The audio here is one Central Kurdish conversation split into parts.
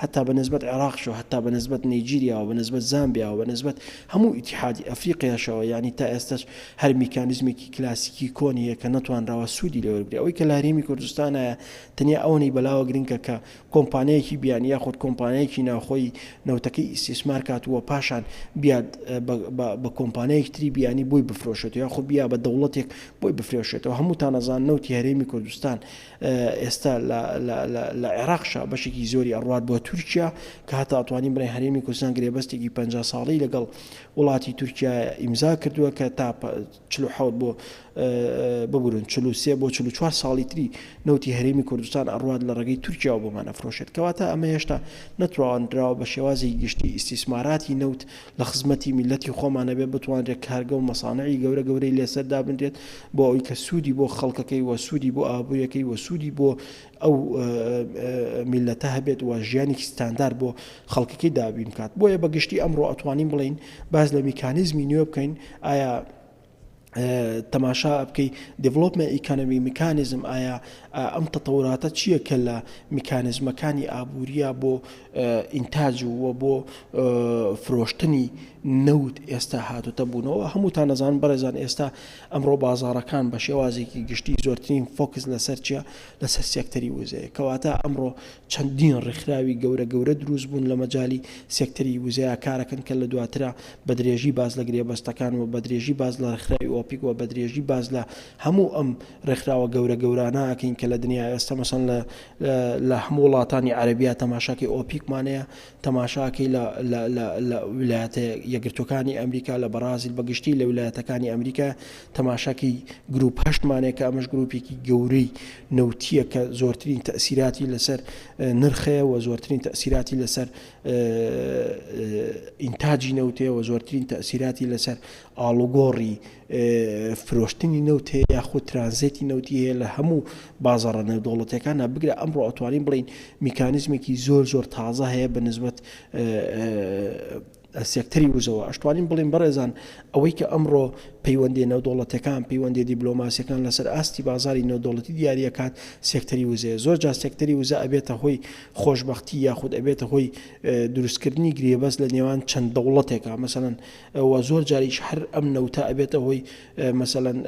هەتا بە نسبەت عێڕاقشەوە هەتا بە نسبەت نەیجیریاوە بە نسبەت زامبیاوە بە نسبەت هەموو ئیتیحادی ئەفریقیاشەوە یانی تا ئێستەش هەر میکانیزمێکی کلاسیکی کۆن هەیە کە نەتوانراوە سوودی لێ وەرگری ئەوەی کە لە هەرێمی کوردستانایە تەنیا ئەوەنەی بەلاوە گرنکە کە کۆمپانیایەکی بیانی یاخود کۆمپانیایەکی ناوخۆی نەوتەکەی ئیسیسمار کات وە پاشان بیاد بە کۆمپانیایەک تری بیانی بۆی بفرۆشێت یاخود بیا بە دەوڵەتێک بۆی بفرێشێتەوە هەمووتانەزان نەوتی هەرێمی کوردستان ئێستا لە عێراقشا بەشێکی زۆری ئەڕوات بۆ تورکیا کە هەتا ئەتوانین بڵێن هەرێمی کوردستان گرێبەستێکی پەنجا ساڵەی لەگەڵ وڵاتی تورکیا ئیمزا کردووە کە تا چل و حەوت بۆ ببورن چل و سێ بۆ چل و چوار ساڵی تری نەوتی هەرێمی کوردستان ئەڕوات لە ڕێگەی تورکیاوە بۆمان ئەفرۆشێت کەواتە ئەمە هێشتا نەتوانراوە بە شێوازی گشتی ئیسیسماراتی نەوت لە خزمەتی میللەتی خۆمانە بێ بتوانرێت کارگە و مەسانعی گەورە گەورەی لێسەر دابنرێت بۆ ئەوی کە سوودی بۆ خەڵکەکەی و سوودی بۆ ئابووریەکەی و سوودی بۆ ئەو میلەتە هەبێت و ژیانی ستاندار بۆ خەڵکەکەی دابین بکات بۆیە بەگشتی ئەمڕۆ ئەتوانین بڵین باز لە میکانیزمی نوێ بکەین ئایا تەماشا بکەی دیڤلۆپمە ئیکانەمی میکانیزم ئایا ئەم تەتەوراتە چییە کە لە میکانزمەکانی ئابووریە بۆ ئینتاج ووە بۆ فرۆشتنی نەوت ئێستا هاتوتە بوونەوە هەمووتان نەزان بەڕێزان ئێستا ئەمڕۆ بازارەکان بە شێوازێکی گشتی زۆرترین فۆکس لەسەر چیە لەسەر سێکتەری وزەیە کەواتە ئەمڕۆ چەندین ڕێکخراوی گەورە گەورە دروست بوون لە مەجای سێکتەری وزەیە کارەکەن کە لە دواترا بە درێژی باس لە گرێبەستەکان و بە درێژی باس لە ڕێکخراوی ئۆپیک و بە درێژی باس لە هەموو ئەم ڕێکخراوە گەورە گەورانە ئەکەین کە لە دنیا ئێستا مەسەن لە لە هەموو وڵاتانی عەربیا تەماشاکەی ئۆپیکمانەیە تەماشاکەی لە ولایەتە یەگرتوەکانی ئەمریکا لە بەڕازیل بەگشتی لە ولایەتەکانی ئەمریکا تەماشاکەی گروپ هەشتمانەیە کە ئەمەش گروپێکی گەورەی نەوتیە کە زۆرترین تەسیراتی لەسەر نرخەیە و زۆرترین تەسیراتی لەسەر ئینتاجی نەوت هەیە و زۆرترین تەسیراتی لەسەر ئاڵوگۆڕی فرۆشتنی نەوت هەیە یاخود ترانزێتی نەوتی هەیە لە هەموو بازارە نێودوڵەتەکانە بگرە ئەمڕۆ ئەتوانین بڵین میکانزمێکی زۆر زۆر تازە هەیە بە نسبت سێکتەری وزەوە ئەشتوانین بڵین بەڕێزان ئەوەی کە ئەمڕۆ پەیوەندی نەودۆڵەتەکان پەیوەندی دیبلۆماسیەکان لەسەر ئاستی بازاری نەودۆڵەتی دیارەکات سێکتەری وزەیە زۆر جا سێکتەری وزە ئەبێتە هۆی خۆشبەختی یاخود ئەبێتە هۆی دروستکردنی گرێبەست لە نێوان چەند دەوڵەتێکا مەسەلەن و زۆر جاریش هەر ئەم نەوتە ئەبێتە هۆی مەسەلەن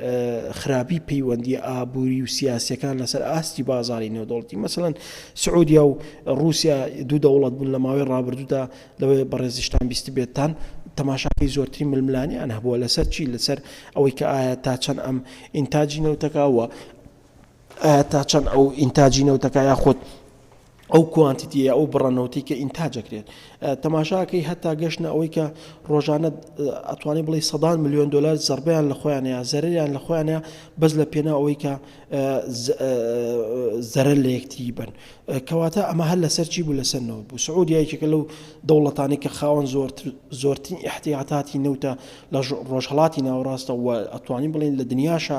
خراپی پەیوەندی ئابووری و سیاسەکان لەسەر ئاستی بازاری نێودەوڵەتی مەسەلەن سعودیا و رووسیا دوو دەوڵەت بوون لە ماوەی ڕابردوودا لەوەی بەڕێزیشتان بیست بێتتان تەماشاکەی زۆرتری ململانیان هەبووە لەسەر چی لەسەر ئەوەی کە ئایا تا چەند ئەم ئینتاجی نەوتەکەوە ئایا تا چەند ئەو ئینتاجی نەوتەکە یاخود ئەو کوانتیتیە ئەو بڕە نەوتی کە ئینتاجەکرێت تەماشاکەی هەتا گەشتە ئەوەی کە ڕۆژانە ئەتوانی بڵی سەدان میلیۆن دلار زربیان لە خۆیانەیە زەریان لە خۆیانە بەس لە پێنا ئەوەی کە زەرە لە یەکتری بن کەواتە ئەمە هەر لەسەر چی بوو لەسەر نەوت بوو سعودیایکێکە لەو دەوڵەتانی کە خاوەن زۆر زۆرترین احتیاتاتی نەوتە لە ڕۆژهڵاتی ناوڕاستە و ئەتوانی بڵین لە دنیاشە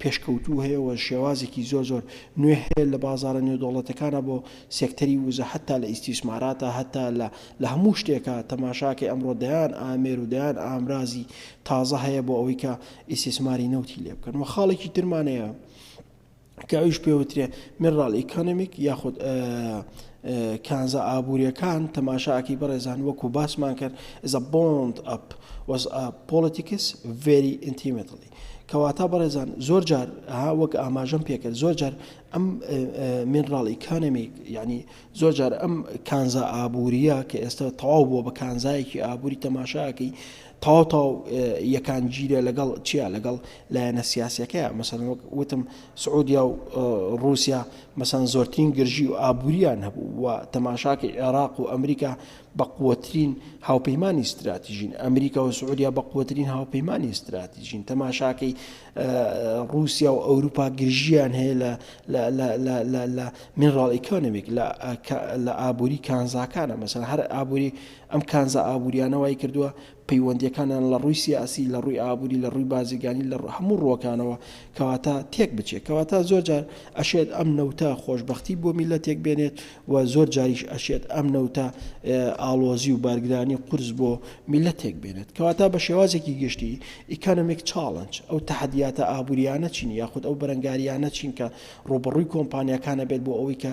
پێشکەوتوو هەیە و شێوازێکی زۆر زۆر نوێ هەیە لە بازارە نێودەوڵەتەکانا بۆ سێکتەری وزە هەتا لە ئیستیسماراتا هەتا لە لە هەموو شتێکا تەماشاکەی ئەمڕۆ دەیان ئامێر و دەیان ئامرازی تازە هەیە بۆ ئەوەی کە ئیستیسماری نەوتی لێ بکەن وە خاڵێکی ترمان هەیە کە ئەویش پێ وترێ مێڕاڵ ئیکۆنمیک یاخود کانزا ئابووریەکان تەماشاکی بەڕێزان وەکو باسمان کرد زە بۆند ئەپ وەز پۆلیتیکس ڤێری ئینتیمەتڵی کەواتا بەڕێزان زۆر جار ها وەک ئاماژەم پێکرد زۆر جار ئەم مینڕاڵ ئیکانەمی یعنی زۆر جار ئەم کانزا ئابووریە کە ئێستا تەواو بووە بە کانزایەکی ئابووری تەماشاکەی تاو تاو یەکان گیرە لەگەڵ چیا لەگەڵ لایەنە سیاسەکە مەسەن وەک وتم سعودیا و رووسیا مەسان زۆرترین گرژی و ئابووریان هەبوو و تەماشاکە عێراق و ئەمریکا بەقوەترین هاوپەیمانی ستراتیژین، ئەمریکا و سعودیا بەقوەترین هاوپەیمانی ستراتیژین، تەماشاکەی روسیا و ئەوروپا گرژیان هەیە لە لە منراڵ ئیکۆنمیک لە ئابووری کانزاکانە مەسەن هەر ئابووری ئەم کانزا ئابووریانەوەی کردووە پەیوەندیەکانیان لە ڕووی سیاسی، لە ڕووی ئابووری، لە ڕووی بازرگانی، لە هەموو ڕووەکانەوە کەواتە تێک بچێت، کەواتە زۆر جار ئەشێت ئەم نەوتە خۆشبەختی بۆ میللەتێک بێنێت و زۆر جاریش ئەشێت ئەم نەوتە ئاڵۆزی و بارگرانی قورس بۆ میللەتێک بێنێت، کەواتە بە شێوازێکی گشتی Economic Challenge ئەو تەحەدیاتە ئابووریانە چین یاخود ئەو بەرەنگاریانە چین کە ڕووبەڕووی کۆمپانیاکان ئەبێت بۆ ئەوەی کە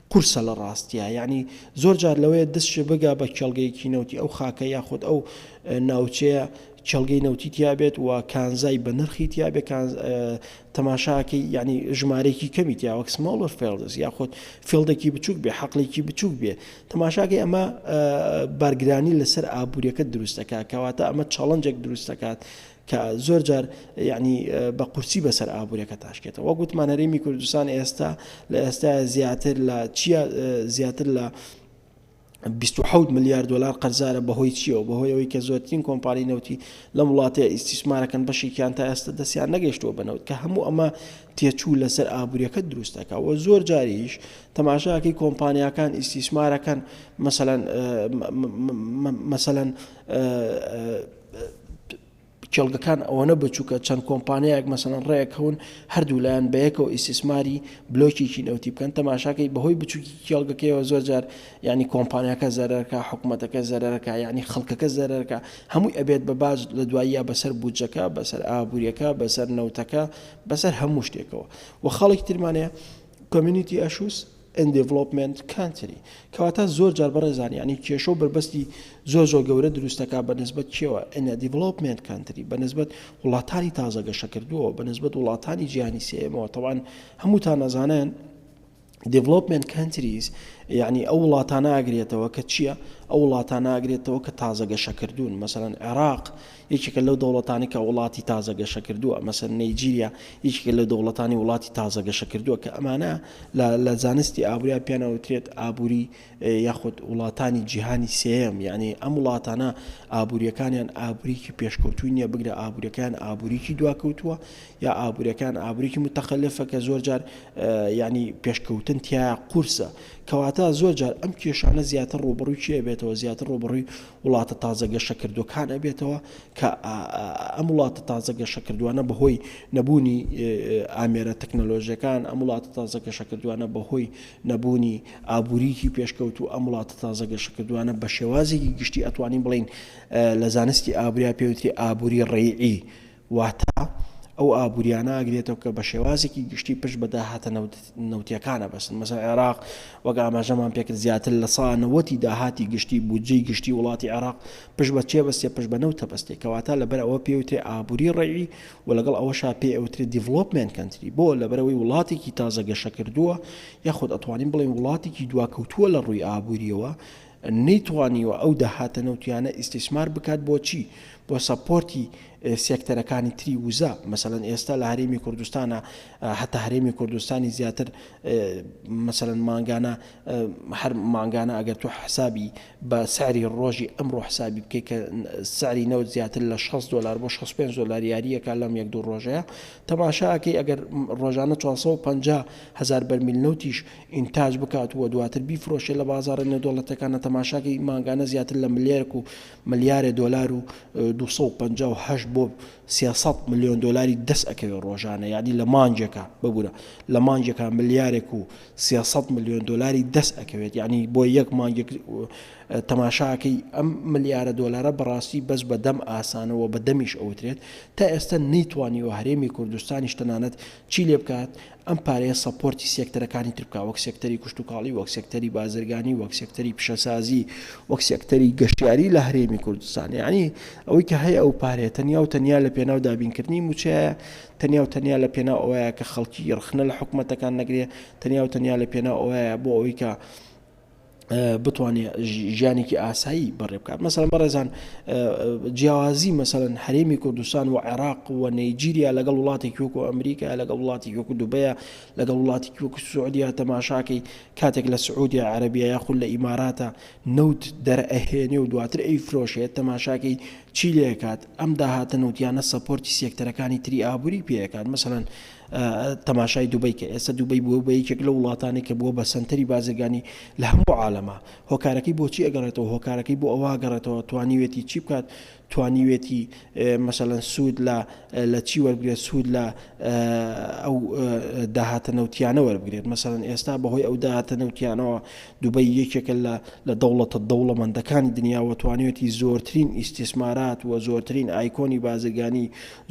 قورسە لە ڕاستیا یانی زۆر جار لەوەیە دست شێ بگا بە کێڵگەیەکی نەوتی ئەو خاکە یاخود ئەو ناوچەیە کێڵگەی نەوتی تیابێت و کانزای بە نرخی تیابێت تەماشاکەی یعنی ژمارەیەکی کەمی تیاوەک سماڵەر فێڵدەس یاخود فێڵدەکی بچوک بێ حەقلێکی بچوک بێ تەماشاکەی ئەمە بارگرانی لەسەر ئابوووریەکە دروستەکە کەواتە ئەمە چاڵنجێک دروستەکات کە زۆر جار یانی بە قورسی بەسەر ئابوورەکە تاشکێتەوە وەک وتمان هەرێمی کوردستان ئێستا لە ئێستا زیاتر لە چیا زیاتر لە 26 ملیار دلار قەرزارە بەهۆی چیەوە بەهۆی ئەوی کە زۆرترین کۆمپانی نەوتی لەم وڵاتە ئیسیسمارەکەن بەشێکیان تا ئێستا دەستیان نەگەشتووە بنەوت کە هەموو ئەمە تێچوو لەسەر ئابوووریەکە دروستەکە و زۆر جاریش تەماشاکەی کۆمپانیەکان ئیسیسمارەکەن مەسەەن مەسەەن کێڵگەکان ئەوەنە بچووکە چەند کۆمپانیایەک مەسەن ڕێک هەون هەردوو لایەن بەیەکەوە ئیسیسماری بلۆکێکی نەوتی بکەن تەماشاکەی بەهۆی بچووکی کێڵگەکەیەوە زۆر جار ینی کۆمپانیەکە زەرەکە حکوومەتەکە زەرەکە ینی خەڵکەکە زەرەکە هەمووی ئەبێت بە باج لە دواییە بەسەر بودجەکە بەسەر ئابوووریەکە بەسەر نەوتەکە بەسەر هەموو شتێکەوە و خەڵک ترمانەیە کۆمیونیتی ئەشووس in development country کەواتە زۆر جار بەڕێزان یعنی کێشە و بەربەستی زۆر زۆر گەورە دروست دەکات بە نسبەت کێوە in a development country بە نسبەت وڵاتانی تازە گەشە کردووە بە نسبەت وڵاتانی جیهانی سێمەوە تەوان هەمووتان نەزانن development countries یعنی ئەو وڵاتانە ئاگرێتەوە کە چییە ئەو وڵاتانە ئاگرێتەوە کە تازە گەشە کردوون مەسەن عێراق یەکێکە لەو دەوڵەتانەی کە وڵاتی تازە گەشەکردووە، مەسەن نەیجیریا یەکێکە لە دەوڵەتانی وڵاتی تازە گەشەکردووە کە ئەمانە لە لە زانستی ئابووریا پێیان ئەوترێت ئابووری یاخود وڵاتانی جیهانی سێیەم یعنی ئەم وڵاتانە ئابووریەکانیان ئابووریکی پێشکەوتووی نییە بگرە ئابووریەکان ئابووریکی دواکەوتووە یا ئابووریەکان ئابووریکی متەقلفە کە زۆر جار یعنی پێشکەوتن تیا قورسە کەواتە زۆر جار ئەم کێشانە زیاتر ڕوبڕووی چێ بێتەوە زیاتر ڕوبڕووی وڵاتە تازە گەشەکردووەکان ئەبێتەوە کە ئەم وڵاتە تازە گەشەکردووانە بەهۆی نەبوونی ئامێرە تەکنەلۆژیەکان ئەم وڵاتە تازە گەشەکردووانە بەهۆی نەبوونی ئابووریکی پێشکەوت و ئەم وڵاتە تازە گەشەکردووانە بە شێوازێکی گشتی ئەتوانین بڵین لە زانستی ئابریا پێوتری ئابووری ڕێعی واتە ئەو ئابووریانە ئەگرێتەوە کە بە شێوازێکی گشتی پشت بە داهاتە نەوتییەکان ئەبەستن، مەسەڵەن عێراق وەک ئاماژەمان پێ کرد زیاتر لە سەدا نەوەت ی داهاتی گشتی، بودجەی گشتی وڵاتی عێراق پشت بە چی ئەبەستێ؟ پشت بە نەوت ئەبەستێ، کەواتە لەبەر ئەوە پێی وترێ ئابووری ڕەیی و لەگەڵ ئەوەشا پێی ئەوترێ دیڤڵۆپمێنت کەنتری، بۆ؟ لەبەرئەوەی وڵاتێکی تازە گەشەکردووە یاخود ئەتوانین بڵێین وڵاتێکی دواکەوتووە لە ڕووی ئابوورییەوە، نەیتوانیوە ئەو داهاتە نەوتیانە ئیستیسمار بکات بۆ چی؟ بۆ سەپۆرتی سێکتەرەکانی تری وزە، مەسەلەن ئێستا لە هەرێمی کوردستانا هەتا هەرێمی کوردستانی زیاتر مەسەلەن مانگانە هەر مانگانە ئەگەر تۆ حسابی بە سعری ڕۆژی ئەمڕۆ حسابی بکەیت کە سعری نەوت زیاتر لە 6 دلار بۆ 65 دلار یاریەکە لەم یەک دوو ڕۆژەیە تەماشاکەی ئەگەر ڕۆژانە 450 هزار بەرمیل نەوتیش ئینتاج بکات و دواتر بیفرۆشێت لە بازاڕە نێودەوڵەتیەکانە تەماشاکەی مانگانە زیاتر لە ملیەرک و ملیارێ دۆلار و دوو سەد و پەنجا و هەشت بۆ سێ سەد ملیۆن دۆلاری دەست ئەکەوێت ڕۆژانە یانی لە مانگێکا ببورە لە مانگێکا ملیارێک و سێ سەد ملیۆن دۆلاری دەست ئەکەوێت یعنی بۆ یەک مانگێک تەماشاکەی ئەم ملیارە دۆلارە بەڕاستی بەس بە دەم ئاسانەوە بە دەمیش ئەوترێت تا ئێستا نەیتوانیوە هەرێمی کوردستانیش تەنانەت چی لێ بکات ئەم پارەیە سەپۆرتی سێکتەرەکانی تر بکا وەک سێکتەری کشتوکاڵی، وەک سێکتەری بازرگانی، وەک سێکتەری پیشەسازی، وەک سێکتەری گەشتیاری لە هەرێمی کوردستان. یەعنی ئەوەی کە هەیە ئەو پارەیە تەنیا و تەنیا لە پێناو دابینکردنی مووچەیە، تەنیا و تەنیا لە پێناو ئەوەیە کە خەڵکی ڕەخنە لە حکومەتەکان نەگرێ، تەنیا و تەنیا لە پێناو ئەوەیە بۆ ئەوەی کە، بتوانێت ژیانێکی ئاسایی بەڕێ بکات مەسەن بەڕێزان جیاوازی مەسەن حرێمی کوردستان و عێراق و نەیجیریا لەگەڵ وڵاتی کوک و ئەمریکا لەگەڵ وڵاتی کوک دوبەیە لەگەڵ وڵاتی کوک سعودیا تەماشاکەی کاتێک لە سعودیا عربیا یاخود لە ئیماراتە نەوت دەرئەهێنێ و دواتر ئەی فرۆشێت تەماشاکەی چی لێکات ئەم داهاتە نەوتیانە سەپۆرتی سێکتەرەکانی تری ئابووری پێەکات مەسەن تەماشای دوبەی کە ئێستا دوبەی بووە بە یەکێک لە وڵاتانی کە بووە بە سەنتەری بازرگانی لە هەموو عالەما هۆکارەکەی بۆچی ئەگەڕێتەوە هۆکارەکەی بۆ ئەوە گەڕێتەوە توانیوێتی چی بکات توانیوێتی مەسەەن سوود لە لە چی وەرگێت سوود لە ئەو داهاتە نەوتیانە وەربگرێت مەسەن ئێستا بەهۆی ئەو داهاتە نەوتیانەوە دوبەی یەکێکە لە لە دەوڵەتە دەوڵەمەندەکانی دنیاوە توانیوێتی زۆرترین ئیسیسمارات و زۆرترین ئایکۆنی بازرگانی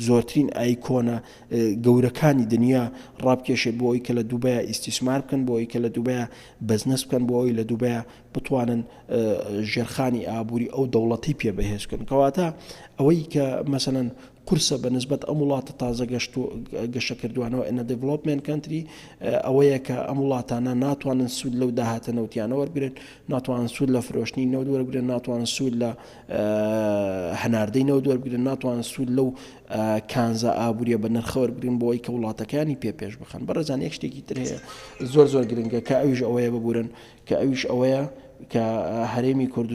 زۆرترین ئایکۆنە گەورەکانی دنیا ڕابکێشێت بۆ ئەوەی کە لە دوبەیا ئیستیسمار بکەن بۆ ئەوەی کە لە دوبەیا بەزنس بکەن بۆ ئەوەی لە دوبەیا بتوانن ژێرخانی ئابووری ئەو دەوڵەتی پێ بەهێز بکەن کەواتە ئەوەی کە مەسەەن قورسە بە نسبەت ئەم وڵاتە تازە گەشت و گەشە کردوانەوە ئەە دەڤڵۆپمێن کەنتری ئەوەیە کە ئەم وڵاتانە ناتوانن سوود لەو داهاتە نەوتیانە وەرگن ناتوان سوود لە فرۆشتنی نەوت وەرگن ناتوان سوود لە هەناردەی نەوت وەربگرن، ناتوانن سوود لەو کانزا ئابوورییە بەنرخە وەربگرن بۆ ئەوەی کە وڵاتەکانی پێ پێش بخەن. بەڕێزان یەک شتێکی تر هەیە زۆر زۆر گرنگە کە ئەویش ئەوەیە ببورن کە ئەویش ئەوەیە کە هەرێمی کوردستان،